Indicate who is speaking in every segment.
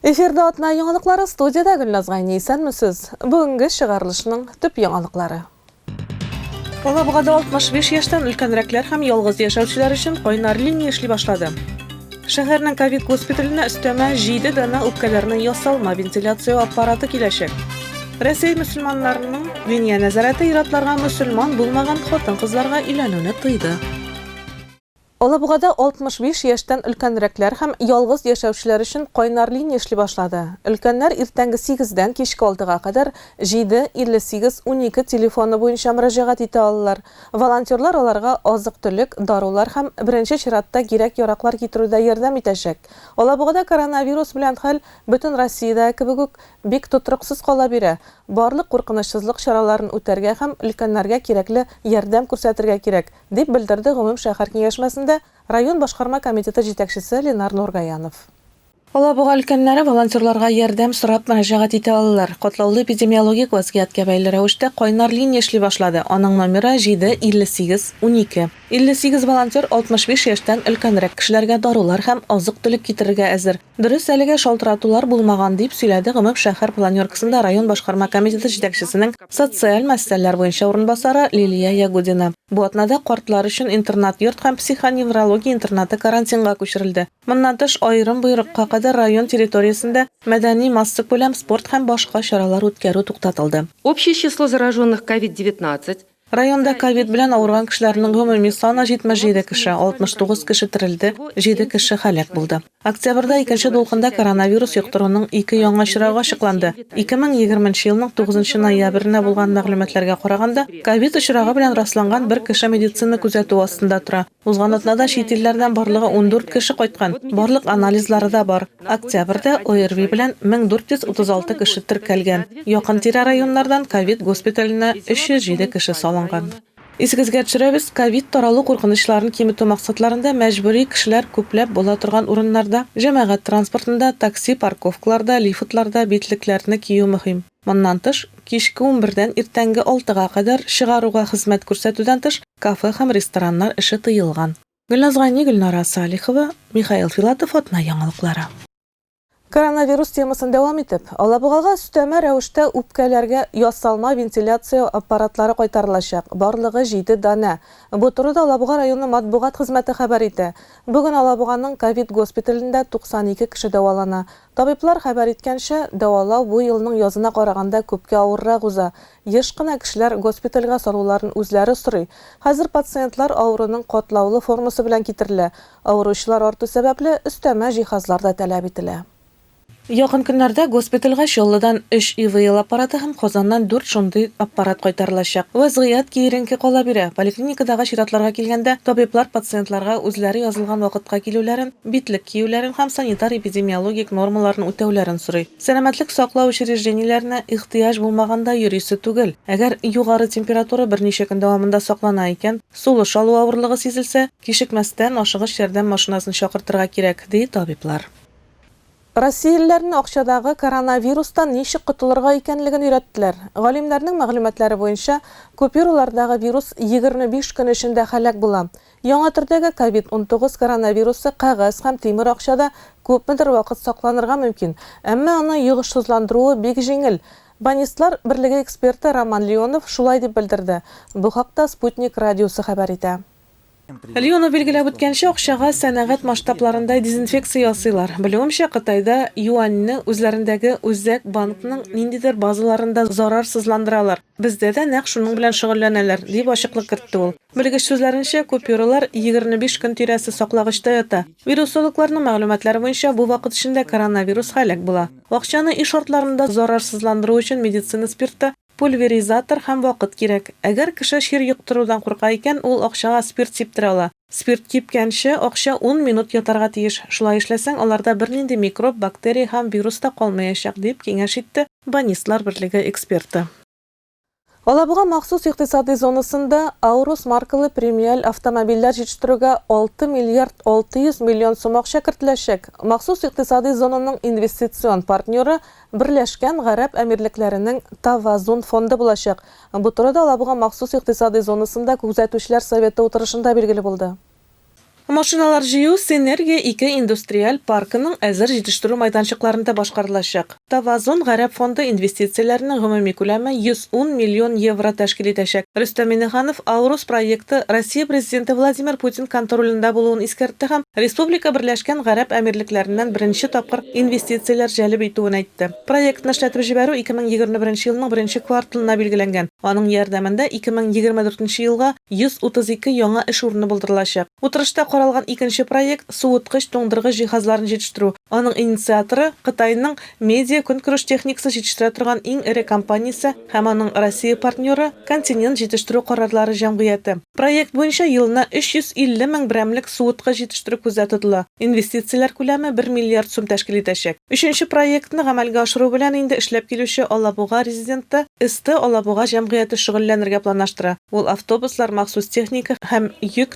Speaker 1: Эфирда атна яңалыклары студиядә Гөлназ Гайни исәнмесез. Бүгенге чыгарылышның төп яңалыклары. Алабугада 65 яшьтән өлкәнрәкләр һәм ялгыз яшәүчеләр өчен кайнар линия эшли башлады. Шәһәрнең ковид госпиталенә өстәмә 7 дана үпкәләрне ясалма вентиляция аппараты киләчәк. Россия мөселманнарының Диния нәзарәте иратларга мөселман булмаган хатын-кызларга өйләнүне тыйды. Алабугада 65 яшьтән өлкәнрәкләр һәм ялгыз яшәүчеләр өчен кайнар линия эшли башлады. Өлкәннәр иртәнге сигездән кичке алтыга кадәр 7 58 12 телефоны буенча мөрәҗәгать итә алалар. Волонтерлар аларга азык-төлек, дарулар һәм беренче чиратта кирәк-яраклар китерүдә ярдәм итәчәк. Алабугада коронавирус белән хәл бөтен Россиядәге кебек үк бик тотрыксыз кала бирә. Барлык куркынычсызлык чараларын үтәргә һәм өлкәннәргә кирәкле ярдәм күрсәтергә кирәк. дип белдерде гомум шәһәр киңәшмәсендә район башкарма комитеты җитәкчесе Ленар Нургаянов. Алабуга өлкәннәре волонтерларга ярдәм сорап мөрәҗәгать итә алалар. Катлаулы эпидемиологик вазгыятькә бәйле рәвештә кайнар линия эшли башлады, аның номеры, 7 58 12. 58 волонтер 65 яшьтән өлкәнрәк кешеләргә дарулар һәм азык-төлек китерергә әзер. Дөрес, әлегә шалтыратулар булмаган, дип сөйләде Гомеп шәһәр планеркасында район башкарма комитеты җитәкчесенең социаль мәсьәләләр буенча урынбасары Лилия Ягудина. Бу атнада картлар өчен интернат-йорт һәм психоневрология интернаты карантинга күчерелде. Моннан тыш, аерым боерыкка кадәр район территориясендә мәдәни, массакүләм спорт һәм башка чаралар үткәрү туктатылды. Общее число
Speaker 2: зараженных ковид-19 Районда ковид
Speaker 1: белән авырган кешеләрнең гомуми саны 77 кеше, 69 кеше терелде, 7 кеше һәлак булды. Октябрьдә икенче дулкында коронавирус йоктыруның ике яңа очрагы ачыкланды. 2020 нче елның 9 ноябренә булган мәгълүматларга караганда, ковид очрагы белән расланган бер кеше медицина күзәтүе астында тора. Узган атнада чит илләрдән барлыгы ундүрт кеше кайткан, барлык анализлары да бар. Октябрьдә ОРВИ белән 1436 кеше теркәлгән. Якын-тирә районнардан ковид госпиталенә 307 кеше салынган. Исегезгә төшерәбез, ковид таралу куркынычларын киметү максатларында мәҗбүри кешеләр күпләп була торган урыннарда, җәмәгать транспортында, такси парковкаларда, лифтларда битлекләрне кию мөһим. Моннан тыш, кичке унбердән иртәнге алтыга кадәр чыгаруга хезмәт күрсәтүдән тыш, кафе һәм рестораннар эше тыелган. Гөлназ Гайни, Гөлнара Салихова, Михаил Филатов, Атна яңалыклары. Коронавирус темасын дәвам итеп, Алабугага өстәмә рәвештә үпкәләргә ясалма вентиляция аппаратлары кайтарылачак, барлыгы җиде данә. Бу турыда Алабуга районы матбугат хезмәте хәбәр итә. Бүген Алабуганың ковид госпиталендә 92 кеше дәвалана, Табиблар хәбәр иткәнчә, дәвалау бу елның язына караганда күпкә авыррак уза. Еш кына кешеләр госпитальгә салуларын үзләре сорый. Хәзер пациентлар авыруның катлаулы формасы белән китерелә. Авыручылар арту сәбәпле, өстәмә җиһазлар да таләп ителә. Якын көннәрдә госпитальгә Чаллыдан өч ИВЛ аппараты һәм Казаннан дүрт шундый аппарат кайтарылачак. Вәзгыять киеренке кала бирә. Поликлиникадагы чиратларга килгәндә, табиблар пациентларга үзләре язылган вакытка килүләрен, битлек киюләрен һәм санитар-эпидемиологик нормаларны үтәүләрен сорый. Сәламәтлек саклау учреждениеләренә ихтыяҗ булмаганда йөрисе түгел. Әгәр югары температура берничә көн дәвамында саклана икән, сулыш алу авырлыгы сизелсә, кичекмәстән ашыгыч ярдәм машинасын чакыртырга кирәк, ди табиблар. Россиялеләрне акчадагы коронавирустан ничек котылырга икәнлеген өйрәттеләр. Галимнәрнең мәгълүматлары буенча, купюралардагы вирус егерме биш көн эчендә һәлак була. Яңа төрдәге ковид-унтугыз коронавирусы кәгазь һәм тимер акчада күпмедер вакыт сакланырга мөмкин, әмма аны йогышсызландыруы бик җиңел. Банистлар берлеге эксперты Роман Леонов шулай дип белдерде. Бу хакта Спутник радиосы хәбәр итә. Леонов билгеләп үткәнчә, акчага сәнәгать масштабларында дезинфекция ясыйлар. Белүемчә, Кытайда юаньне үзләрендәге Үзәк банкның ниндидер базаларында зарарсызландыралар. Бездә дә нәкъ шуның белән шөгыльләнәләр, дип ачыклык кертте ул. Белгеч сүзләренчә, купюралар егерне биш көн тирәсе саклагычта ята. Вирусологларның мәгълүматлары буенча, бу вакыт эчендә коронавирус һәлак була. Акчаны өй шартларында зарарсызландыру өчен медицина спирты, Пульверизатор һәм вакыт кирәк. Әгәр кеше чир йоктырудан курка икән, ул акчага спирт сиптерә ала. Спирт кипкәнче, акча ун минут ятарга тиеш. Шулай эшләсәң, аларда бернинди микроб, бактерия һәм вирус та калмаячак, дип киңәш итте Банистлар берлеге эксперты. Алабуга махсус икътисадый зонасында Аурус маркалы премиаль автомобильләр җитештерүгә алты миллиард алты йөз миллион сум акча кертеләчәк. Махсус икътисадый зонаның инвестицион партнеры, Берләшкән Гарәп Әмирлекләренең Тавазун фонды булачак. Бу турыда Алабуга махсус икътисадый зонасында Күзәтүчеләр советы утырышында билгеле булды. Машиналар җыю Синергия ике индустриаль паркының әзер җитештерү майданчыкларында башкарылачак. Тавазун Гарәп фонды инвестицияләренең гомуми күләме 110 миллион евро тәшкил итәчәк. Рөстәм Миңнеханов Аурус проекты Россия Президенты Владимир Путин контролендә булуын искәртте һәм республика Берләшкән Гарәп Әмирлекләреннән беренче тапкыр инвестицияләр җәлеп итүен әйтте. Проектны эшләтеп җибәрү 2021 елның беренче кварталына билгеләнгән. Аның ярдәмендә 2024 елга 132 яңа эш урыны булдырылачак. Утырышта каралган икенче проект, суыткыч-туңдыргыч җиһазларын җитештерү. Аның инициаторы, Кытайның Медиа-көнкүреш техникасын җитештерә торган иң эре компаниясе, һәм аның Россия партнеры, Континент җитештерү карарлары җәмгыяте. Проект буенча елына 350 мең берәмлек суыткыч җитештерү күздә тотыла, инвестицияләр күләме бер миллиард сум тәшкил итәчәк. Өченче проектны гамәлгә ашыру белән инде эшләп килүче Алабуга резиденты СТ Алабуга җәмгыяте шөгыльләнергә планлаштыра, ул автобуслар, махсус техника һәм йөк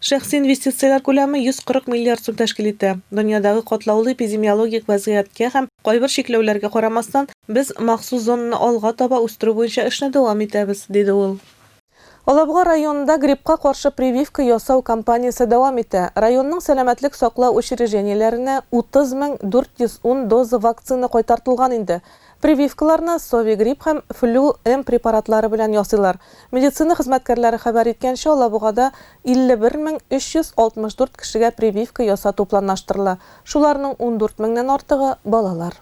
Speaker 1: Шәхси инвестицияләр күләме 140 миллиард сум тәшкил итә. Дөньядагы катлаулы эпидемиологик вәзгыятькә һәм кайбер чикләүләргә карамастан, без махсус зонаны алга таба үстерү буенча эшне дәвам итәбез, диде ул. Алабуга районында гриппка каршы прививка ясау кампаниясе дәвам итә. Районның сәламәтлек саклау учреждениеләренә 30 мең 410 доза вакцина кайтартылган инде. Прививкаларны Совигрипп һәм Флю М препаратлары белән ясыйлар. Медицина хезмәткәрләре хәбәр иткәнчә, Алабугада 51 мең 364 кешегә прививка ясату планлаштырыла, шуларның 14 меңнән артыгы, балалар.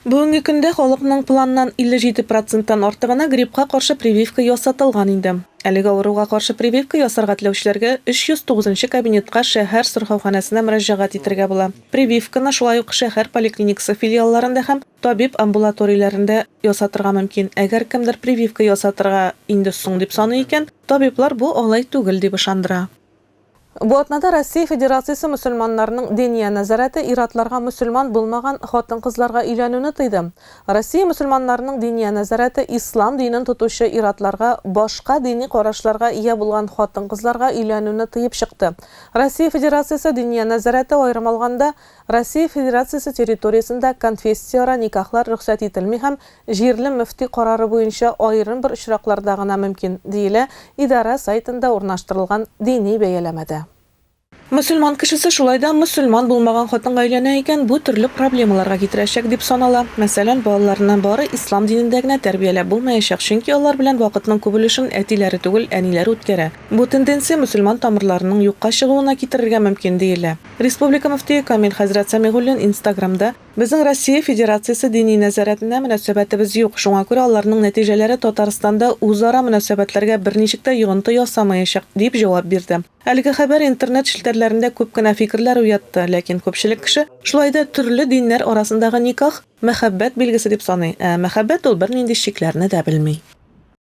Speaker 1: Бүгенге көндә халыкның планнан 57 проценттан артыгына гриппка каршы прививка ясатылган инде. Әлеге авыруга каршы прививка ясарга теләүчеләргә 309 нчы кабинетка шәһәр сырхауханәсенә мөрәҗәгать итәргә була. Прививканы шулай ук шәһәр поликлиникасы филиалларында һәм табиб-амбулаторияләрендә ясатырга мөмкин. Әгәр кемдер прививка ясатырга инде соң дип саный икән, табиблар бу алай түгел дип ышандыра. Бу атнада Россия Федерациясе мөселманнарының Диния нәзарәте ир-атларга мөселман булмаган хатын-кызларга өйләнүне тыйды. Россия мөселманнарының Диния нәзарәте ислам динен тотучы ир-атларга башка дини карашларга ия булган хатын-кызларга өйләнүне тыеп чыкты, Россия Федерациясе Диния нәзарәте аерым алганда, Россия Федерациясе территориясендә конфессияара никахлар рөхсәт ителми һәм җирле мөфти карары буенча аерым бер очракларда гына мөмкин, диелә идарә сайтында урнаштырылган дини бәяләмәдә. Мөселман кешесе шулай да мөселман булмаган хатынга өйләнә икән, бу төрле проблемаларга китерәчәк дип санала. Мәсәлән, балаларны бары ислам динендә генә тәрбияләп булмаячак, чөнки алар белән вакытның күп өлешен әтиләре түгел, әниләре үткәрә. Бу тенденция мөселман тамырларының юкка чыгуына китерергә мөмкин, диелә. Республика мөфтие Камил хәзрәт Сәмигуллин Инстаграмда, Безнең Россия Федерациясе дини нәзарәтенә мөнәсәбәтебез юк, шуңа күрә аларның нәтиҗәләре Татарстанда үзара мөнәсәбәтләргә берничек тә йогынты ясамаячак, дип җавап бирде. Әлеге хәбәр интернет челтәрләрендә күп кенә фикерләр уятты, ләкин күпчелек кеше шулай да төрле диннәр арасындагы никах, мәхәббәт билгесе дип саный, ә мәхәббәт ул бернинди чикләрне дә белми.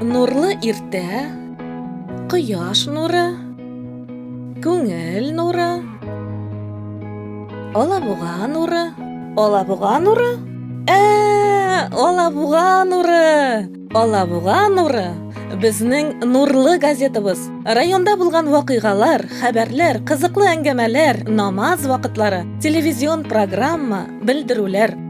Speaker 1: Нурлы иртә, кояш нуры, күңел нуры, алабуга нуры, алабуга нуры, ә, алабуга нуры, алабуга нуры, безнең нурлы газетабыз. Районда булган вакыйгалар, хәбәрләр, кызыклы әңгәмәләр, намаз вакытлары, телевизион программа, белдерүләр.